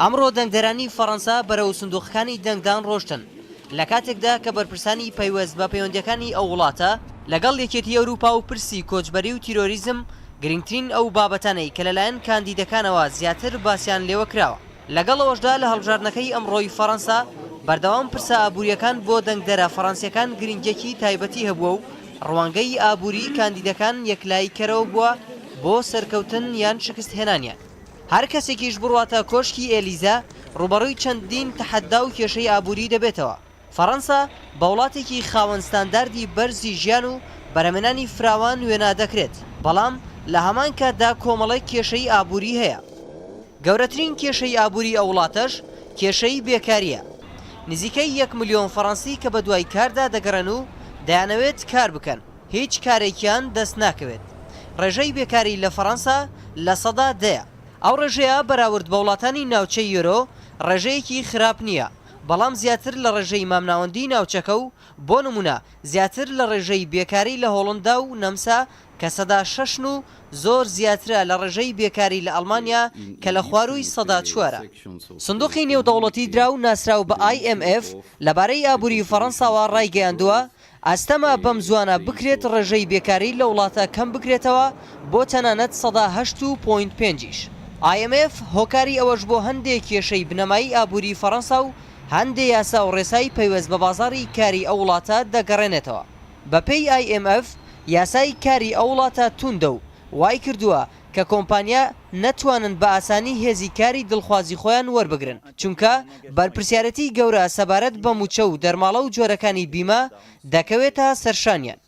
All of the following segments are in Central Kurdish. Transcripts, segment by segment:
ئەمڕۆ دەنگدەرانی فەڕەنسا بەرەو سندوقەکانی دەنگدان ڕۆشتن، لە کاتێکدا کە بەرپرسانی پەیوەست بە پەیوەندییەکانی ئەو وڵاتە لەگەڵ یەکێتی ئەوروپا و پرسی کۆچبەری و تیرۆریزم گرنگترین ئەو بابەتانەی کە لەلایەن کاندیدەکانەوە زیاتر باسیان لێوە کراوە. لەگەڵ ئەوەشدا لە هەڵبژاردنەکەی ئەمڕۆی فەڕەنسا بەردەوام پرسە ئابوورییەکان بۆ دەنگدەرە فەڕەنسییەکان گرنگییەکی تایبەتی هەبووە و ڕوانگەی ئابووریی کاندیدەکان یەکلاییکەرەوە بووە بۆ سەرکەوتن یان شکستهێنانیان. هەر کەسێکیش بڕواتە کۆشکی ئێلیزە، ڕووبەڕووی چەندین تەحەدا و کێشەی ئابووری دەبێتەوە. فەڕەنسا بە وڵاتێکی خاوەن ستانداردی بەرزی ژیان و بەرهەمێنانی فراوان وێنا دەکرێت، بەڵام لە هەمان کاتدا کۆمەڵێک کێشەی ئابووری هەیە. گەورەترین کێشەی ئابووری ئەو وڵاتەش کێشەی بێکارییە. نزیکەی یەک ملیۆن فەڕەنسی کە بەدوای کاردا دەگەڕێن و دەیانەوێت کار بکەن، هیچ کارێکیان دەست ناکەوێت. ڕێژەی بێکاری لە فەڕەنسا لە سەدا دەیە. ئەو ڕێژەیە بەراورد بە وڵاتانی ناوچەی یۆرۆ ڕێژەیەکی خراپ نییە، بەڵام زیاتر لە ڕێژەی مامناوەندی ناوچەکە و بۆ نموونە زیاتر لە ڕێژەی بێکاری لە هۆڵندا و نەمسا کە سەدا شەشن و زۆر زیاترە لە ڕێژەی بێکاری لە ئەڵمانیا کە لە خوارووی سەدا چوارە. سندوقی نێودەوڵەتی دراو ناسراو بە IMF لەبارەی ئابووری فەڕەنساوە ڕایگەیاندووە، ئاستەمە بەم زوانە بکرێت ڕێژەی بێکاری لە وڵاتە کەم بکرێتەوە بۆ تەنانەت سەدا هەشت و پۆینت پێنجیش. IMF هۆکاری ئەوەش بۆ هەندێ کێشەی بنەمایی ئابووری فەرەنسا و هەندێ یاسا و ڕێسای پەیوەست بە بازاڕی کاری ئەو وڵاتە دەگەڕێنێتەوە. بەپێی IMF یاسای کاری ئەو وڵاتە تووندە و وایکردووە کە کۆمپانیا نەتوانن بە ئاسانی هێزی کاری دڵخوازی خۆیان وەربگرن، چونکە بەرپرسیارێتیی گەورە سەبارەت بە مووچە و دەرماڵە و جۆرەکانی بیمە دەکەوێتە سەرشانیان.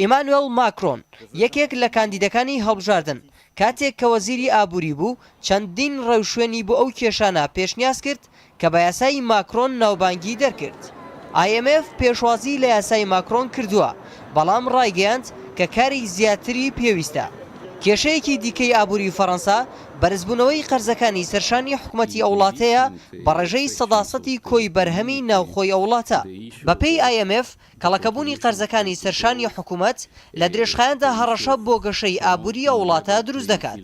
ئیمانوێڵ ماکرۆن، یەکێک لە کاندیدەکانی هەڵبژاردن، کاتێک کە وەزیری ئابووری بوو، چەندین ڕێوشوێنی بۆ ئەو کێشانە پێشنیاز کرد کە بە یاسای ماکرۆن ناوبانگی دەرکرد. ئای ئێم ئێف پێشوازی لە یاسای ماکرۆن کردووە، بەڵام ڕایگەیاند کە کاری زیاتری پێویستە. کێشەیەکی دیکەی ئابووری فەرەنسا بەرزبوونەوەی قەرزەکانی سەرشانی حکومەتی ئەو وڵاتەیە بە ڕێژەی سەدا سەتی کۆی بەرهەمی ناوخۆی ئەو وڵاتە. بەپێی ئای ئێم ئێف، کەڵەکەبوونی قەرزەکانی سەرشانی حکومەت لە درێژخایەندا هەڕەشە بۆ گەشەی ئابووری ئەو وڵاتە دروست دەکات.